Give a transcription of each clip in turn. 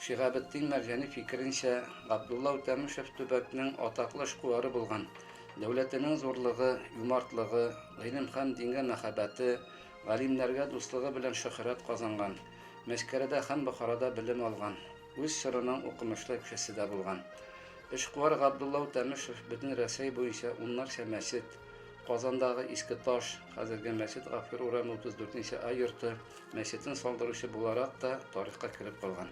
Шиһабетдин Мәрҗани фикеренчә, Габдулла Үтәмешев төбәкнең атаклы эшкуары булган, дәүләтенең зурлыгы, юмартлыгы, гыйлем һәм дингә мәхәббәте, галимнәргә дуслыгы белән шөһрәт казанган, Мәчкәрәдә һәм Бохарада белем алган, үз чорының укымышлы кешесе дә булган. Эшкуар Габдулла Үтәмешев бөтен Рәсәй буенча уннарча мәчет, Казандагы Иске Таш, хәзерге Мәчет Гафур урамы 34 нче А йорты, мәчетен салдыручы буларак та тарихка кереп калган.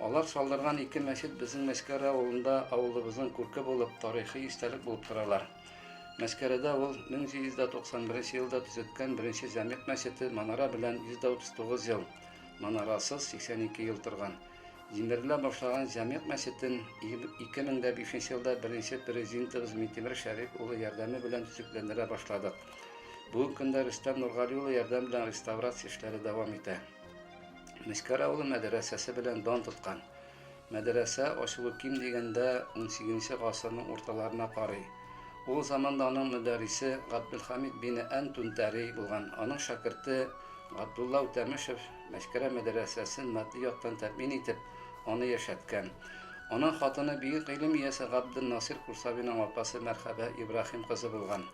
Алар салдырган ике мәчет безнең Мәскәр авылында авылыбызның күрке булып, тарихи истәлек булып торалар. Мәскәрәдә ул 1791 елда төзеткән беренче җәмигъ мәчете манара белән 139 ел, манарасыз 82 ел торган. Җимерелә башлаган җәмигъ мәчетен 2005 елда беренче президентыбыз Митимер Шәриф улы ярдәме белән төзекләндерә башладык. Бүгенге көндә Рөстәм Нургали улы ярдәм белән реставрация эшләре дәвам итә. Мискәр авылы мәдрәсәсе белән дан тоткан. Мәдрәсә ачылу ким дигәндә 18 гасырның урталарына карый. Ул заманда аның мөдәррисе Габделхамид бине Ән Тунтәри булган. Аның шәкерте Габдулла Үтәмешев Мәскәрә мәдрәсәсен матди яктан тәэмин итеп, аны яшәткән. Аның хатыны бөек гыйлем иясе Габдел Насир Курсавиның апасы Мәрхәбә Ибраһим кызы булган.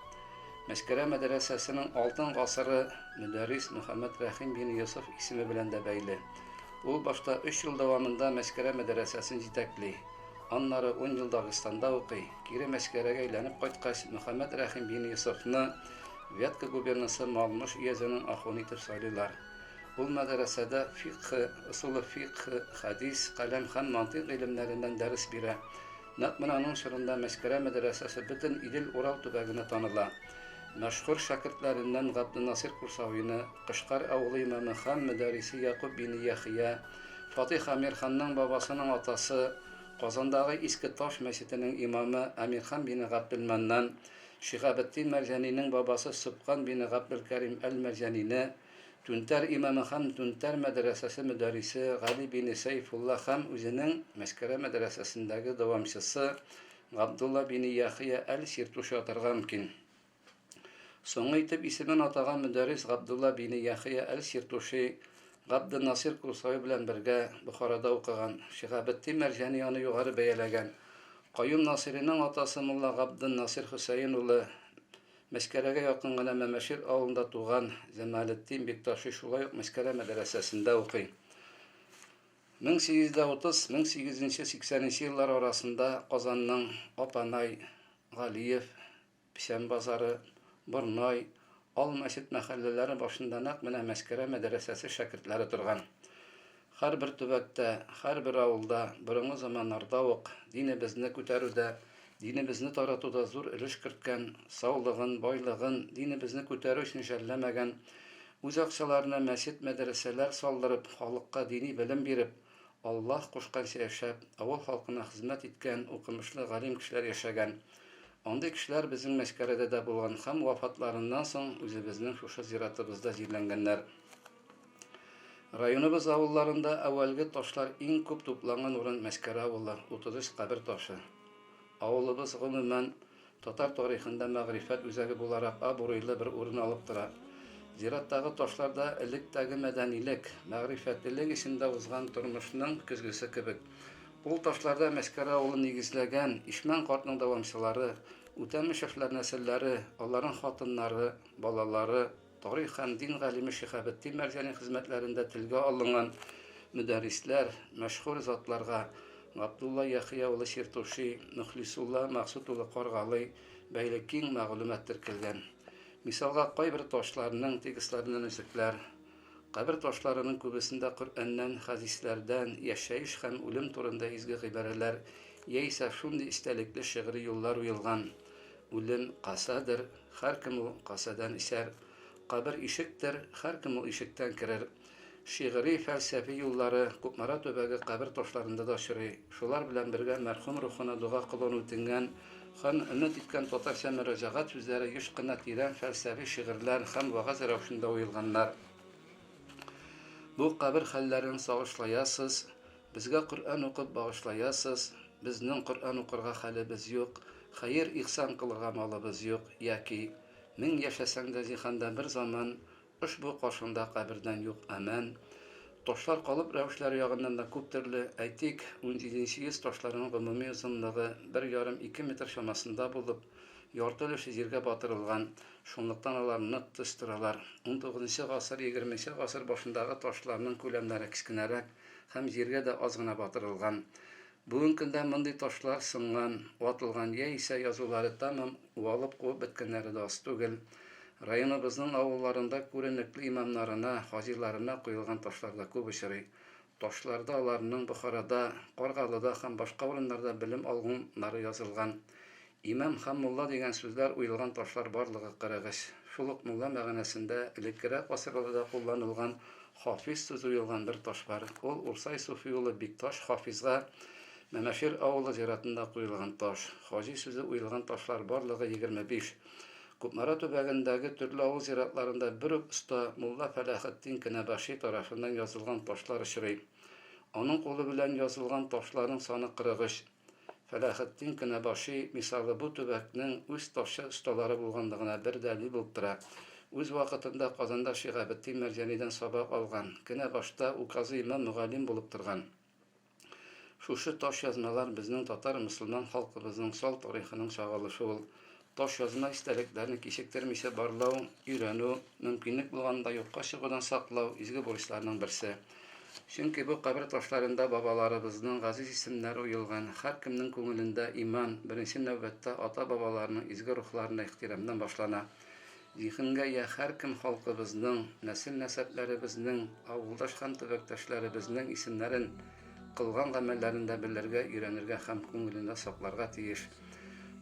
Мәскәрә мәдрәсәсенең алтын гасыры мөдәррис Мөхәммәд Рәхим бин Йосыф исеме белән дә бәйле. Ул башта өч ел дәвамында Мәскәрә мәдрәсәсен җитәкли. Аннары ун ел Дагыстанда укый. Кире Мәскәрәгә әйләнеп кайткач, Мөхәммәд Рәхим бин Йосыфны Вятка губернасы Малмыж өязенең ахуны итеп сайлыйлар. Ул мәдрәсәдә фикъһ, ысулы фикъһ, хәдис, каләм һәм мантыйк гыйлемнәреннән дәрес бирә. Нәкъ менә аның чорында Мәскәрә мәдрәсәсе бөтен Идел-Урал төбәгенә таныла. Мәшһүр шәкертләреннән Габденасыйр Курсавины, Кышкар авылы имамы һәм мөдәррисе Якуб бине Яхъя, Фатыйх Әмирханның бабасының атасы, Казандагы Иске Таш мәчетенең имамы Әмирхан бине Габделмәннан, Шиһабетдин Мәрҗәнинең бабасы Сөбкан бине Габделкәрим әл-Мәрҗәнине, Түнтәр имамы һәм Түнтәр мәдрәсәсе мөдәррисе Гали бине Сәйфулла һәм үзенең Мәскәрә мәдрәсәсендәге дәвамчысы Габдулла бине Яхъя әл-Сиртуши атарга мөмкин. Соңгы итеп исемен атаган мөдәррис Габдулла бине Яхъя әл-Сиртуши Габденнасир Курсави белән бергә Бохарада укыган. Шиһабетдин Мәрҗани аны югары бәяләгән. Каюм Насыйриның атасы мулла Габденнасир Хөсәен улы Мәскәләгә якын гына Мәмәшир авылында туган Җамалетдин Бикташи шулай ук Мәскәлә мәдрәсәсендә укый. 1830-1880 нче еллар арасында Казанның Апанай, Галиев, Печән базары, Борнай, Ал мәчет мәхәлләләре башында нәкъ менә Мәскәлә мәдрәсәсе шәкертләре торган. Һәрбер төбәктә, һәрбер авылда борынгы заманнарда ук динебезне күтәрүдә, динебезне таратуда зур өлеш керткән, саулыгын, байлыгын динебезне күтәрү өчен жәлләмәгән, үз акчаларына мәчет-мәдрәсәләр салдырып, халыкка дини белем биреп, Аллаһ кушканча яшәп, авыл халкына хезмәт иткән укымышлы галим кешеләр яшәгән. Андый кешеләр безнең Мәчкәрәдә дә булган һәм вафатларыннан соң үзебезнең шушы зиратыбызда җирләнгәннәр. Районыбыз авылларында әүвәлге ташлар иң күп тупланган урын Мәскәрә авылы, 33 кабер ташы. Авылыбыз, гомумән, татар тарихында мәгърифәт үзәге буларак абруйлы бер урын алып тора. Зираттагы ташлар да электәге мәдәнилек, мәгърифәтлелек эчендә узган тормышның көзгесе кебек. Ул ташларда Мәскәрә авылын нигезләгән Ишмән картның дәвамчылары, Үтәмешевләр нәселләре, аларның хатыннары, балалары, Тарих һәм дин галиме Шиһабетдин Мәрҗани хезмәтләрендә телгә алынган мөдәррисләр, мәшһүр затларга Габдулла Яхъя улы Чиртуши, Мөхлисулла Максут улы Каргалый бәйле киң мәгълүмат теркәлгән. Мисалга кайбер ташларның текстларыннан өзекләр, кабер ташларының күбесендә Коръәннән, хәдисләрдән, яшәеш һәм үлем турында изге гыйбарәләр яисә шундый истәлекле шигъри юллар уелган, Үлем касадыр, һәркем ул касадан исәр, Кабер ишектер, һәркем ул ишектән керер. Шигъри, фәлсәфи юллары Кукмара төбәге кабер ташларында да очрый. Шулар белән бергә мәрхүм рухына дога кылуын үтенгән һәм өмет иткән татарча мөрәҗәгать сүзләре еш кына тирән фәлсәфи шигырьләр һәм вәгазь рәвешендә уелганнар. Бу кабер хәлләрен сагышлаясыз, Безгә Коръән укып багышлаясыз, безнең Коръән укырга хәлебез юк, хәер-ихсан кылырга малыбыз юк, яки, Мең яшәсәң дә җиһанда бер заман ошбу каршыңда кабердән юк Әмән. Ташлар калып рәвешләре ягыннан да күп төрле, әйтик, унҗиденче йөз ташларының гомуми озынлыгы бер ярым-ике метр чамасында булып, ярты өлеше җиргә батырылган, шунлыктан алар нык төз торалар. Унтугызынчы гасыр-егерменче гасыр башындагы ташларның күләмнәре кечкенәрәк, һәм җиргә дә аз гына батырылган. Бүген көндә мондый ташлар сынган, ватылган яисә язулары тәмам уалып кубып беткәннәре дә аз түгел. Районыбызның авылларында күренекле имамнарына, хаҗиларына коелган ташлар да күп очрый. Ташларда аларның Бохарада, Каргалыда һәм башка урыннарда белем алган нары язылган. Имам һәм мулла дигән сүзләр уелган ташлар барлыгы 43. Шул ук мулла мәгънәсендә элеккерәк гасырларда кулланылган хафиз сүзе уелган бер таш бар, ул Урсай суфи улы Бикташ хафизга Мәмәшир авылы зиратында куелган таш. Хаҗи сүзе уелган ташлар барлыгы 25. Кукмара төбәгендәге төрле авыл зиратларында бер үк оста, мулла Фәләхетдин Кенәбаши тарафыннан язылган ташлар очрый. Аның кулы белән язылган ташларның саны 43. Фәләхетдин Кенәбаши мисалы бу төбәкнең үз ташчы осталары булганлыгына бер дәлил булып тора. Үз вакытында Казанда Шиһабетдин Мәрҗанидән сабак алган, Кенәбашта указы имам мөгаллим булып торган шушы таш язмалар безнең татар-мөселман халкыбызның сал тарихының чагылышы ул Таш язма истәлекләрне кичектермичә барлау, өйрәнү, мөмкинлек булганда юкка чыгудан саклау, изге бурычларның берсе. Чөнки бу кабер ташларында бабаларыбызның газиз исемнәре уелган, һәркемнең күңелендә иман, беренче нәүбәттә ата-бабаларның изге рухларына ихтирамнан башлана. Зиһенгә йә һәркем халкыбызның, нәсел-нәсәпләребезнең, авылдаш һәм төбәктәшләребезнең исемнәрен, кылган гамәлләрен дә белергә, өйрәнергә һәм күңелендә сакларга тиеш.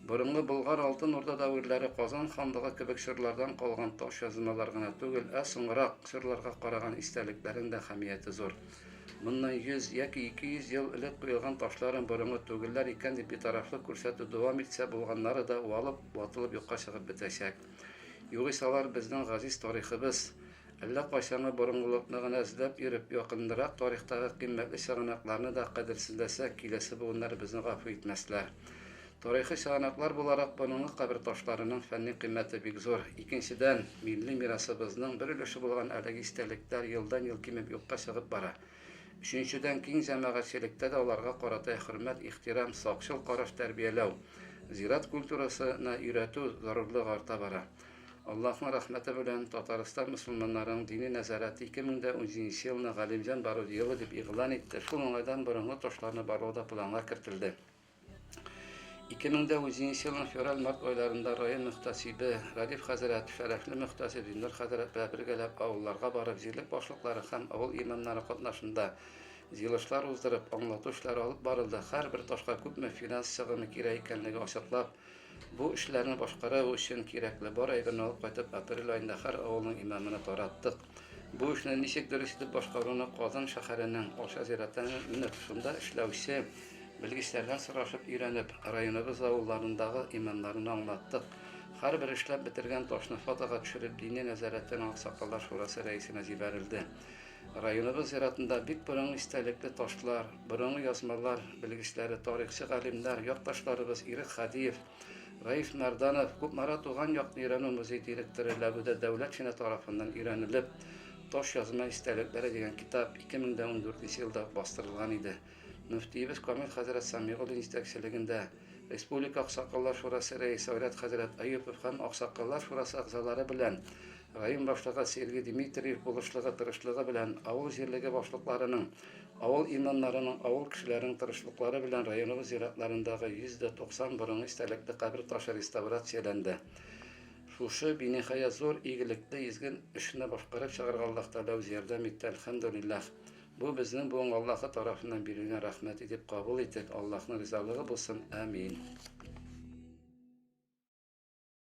Борынгы Болгар, Алтын Урда дәверләре, Казан ханлыгы кебек чорлардан калган таш язылмалар гына түгел, ә соңрак чорларга караган истәлекләрең дә әһәмияте зур. Моннан 100 яки 200 ел элек куелган ташларын борынгы түгелләр икән дип битарафлык күрсәтү дәвам итсә, булганнары да уалып, ватылып юкка чыгып бетәчәк. Югыйсә алар безнең газиз тарихыбыз. Әллә кайчангы борынгылыкны гына эзләп йөреп, якынрак тарихтагы кыйммәтле чыганакларны да кадерсезләсәк, киләсе буыннар безне гафу итмәсләр. Тарихи чыганаклар буларак борынгы кабер ташларының фәнни кыйммәте бик зур. Икенчедән, милли мирасыбызның бер өлеше булган әлеге истәлектәр елдан-ел кимеп юкка чыгып бара. Өченчедән, киң җәмәгатьчелектә дә аларга карата хөрмәт, ихтирам, сакчыл караш тәрбияләү, зират культурасы на өйрәтү зарурлыгы арта бара. Аллаһның рәхмәте белән, Татарстан мөселманнарының дини нәзарәте 2017 елны Галимҗан бару елы дип игълан итте, шул уңайдан борынгы ташларны барлау да планга кертелде. 2009 елның февраль-март айларында район мөхтәсибе Радиф хәзрәт, шәрәфле мөхтәсиб Зиннур хәзрәт белән бергәләп авылларга барып, җирлек башлыклары һәм авыл имамнары катнашында җыелышлар уздырып, аңлату эшләре алып барылды, һәрбер ташка күпме финанс чыгымы кирәк икәнлеген ачыклап, бу эшләрне башкару өчен кирәкле бар әйберне алып кайтып, апрель аенда һәр авылның имамына тараттык. Бу эшне ничек дөрес итеп башкаруны Казан шәһәренең Алша зиратының менә шунда эшләүче белгечләрдән сорашып өйрәнеп, районыбыз авылларындагы имамнарына аңлаттык. Һәрбер эшләп бетергән ташны фотога төшереп дини нәзарәтенең аксакаллар шурасы рәисенә җибәрелде. Районыбыз зиратында бик борынгы истәлекле ташлар, борынгы язмалар белгечләре, тарихчы галимнәр, якташларыбыз Ирек Хадиев, Раиф Нарданов, Кукмара туган якны өйрәнү музей директоры Ләбүдә Дәүләтшина тарафыннан өйрәнелеп, Таш язма истәлекләре дигән китап 2014 елда ук бастырылган иде. Мөфтиебез Камил хәзрәт Самигуллин җитәкчелегендә Республика аксакаллар шурасы рәисе Айрат хәзрәт Әюпов һәм аксакаллар шурасы әгъзалары белән район башлыгы Сергей Дмитриев булышлыгы-тырышлыгы белән авыл җирлеге башлыкларының Авыл имамнарының, авыл кешеләренең тырышлыклары белән районыбыз зиратларындагы 190 борынгы истәлекле кабер ташы реставрацияләнде. Шушы би ниһаять зур игелекле, изге эшне башкарып чыгарга Аллаһ Тәгалә үзе ярдәм итте, әлхәмдүлилләһ! Бу безнең буынга Аллаһы тарафыннан бирелгән рәхмәт итеп кабул итик, Аллаһның ризалыгы булсын, әмиин!